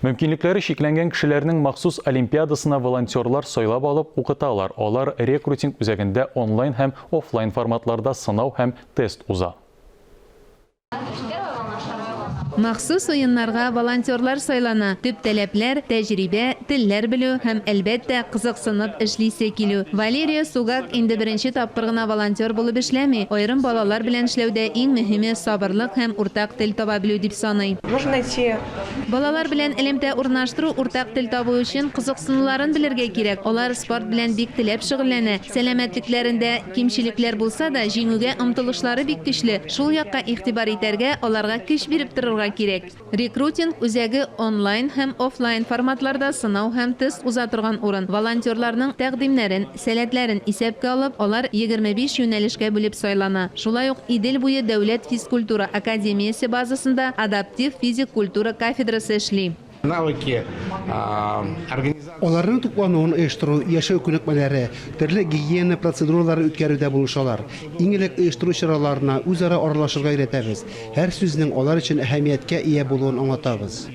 Мөмкинлекләре чикләнгән кешеләрнең махсус олимпиадасына волонтерлар сайлап алып укыталар, алар рекрутинг үзәгендә онлайн һәм офлайн форматларда сынау һәм тест уза. Махсус уеннарга волонтерлар сайлана, төп таләпләр, тәҗрибә, телләр белү һәм, әлбәттә, кызыксынып эшлисе килү. Валерия Сугак инде беренче тапкыр гына волонтер булып эшләми, аерым балалар белән эшләүдә иң мөһиме, сабырлык һәм уртак тел таба белү дип саный. Балалар белән элемтә урнаштыру, уртак тел табу өчен кызыксынуларын белергә кирәк. Алар спорт белән бик теләп шөгыльләнә. Сәламәтлекләрендә кимчелекләр булса да, җиңүгә омтылышлары бик көчле. Шул якка игътибар итәргә, аларга көч биреп торырга кирәк. Рекрутинг үзәге онлайн һәм офлайн форматларда сынау һәм тест уза торган урын. Волонтерларның тәкъдимнәрен Сәләтләрен исәпкә алып, алар егерме биш юнәлешкә бүлеп сайлана. Шулай ук Идел буе дәүләт физкультура академиясе базасында адаптив физик культура кафедрасы эшли. Навыки организации. Аларның туклануын оештыру, яшәү күнекмәләре, төрле гигиена процедураларын үткәрүдә булышалар. Иң элек оештыру чараларына үзара аралашырга өйрәтәбез, һәр сүзнең алар өчен әһәмияткә ия булуын аңлатабыз.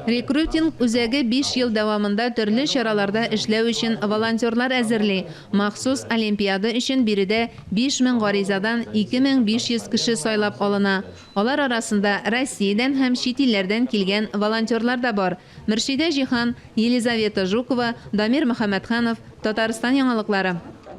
Рекрутинг үзәге биш ел дәвамында төрле чараларда эшләү өчен волонтерлар әзерли. Махсус олимпиада өчен биредә 5000 гаризадан 2500 кеше сайлап алына. Алар арасында Россиядән һәм чит илләрдән килгән волонтерлар да бар. Мөршидә Җиһан, Елизавета Жукова, Дамир Мөхәммәтханов, Татарстан яңалыклары.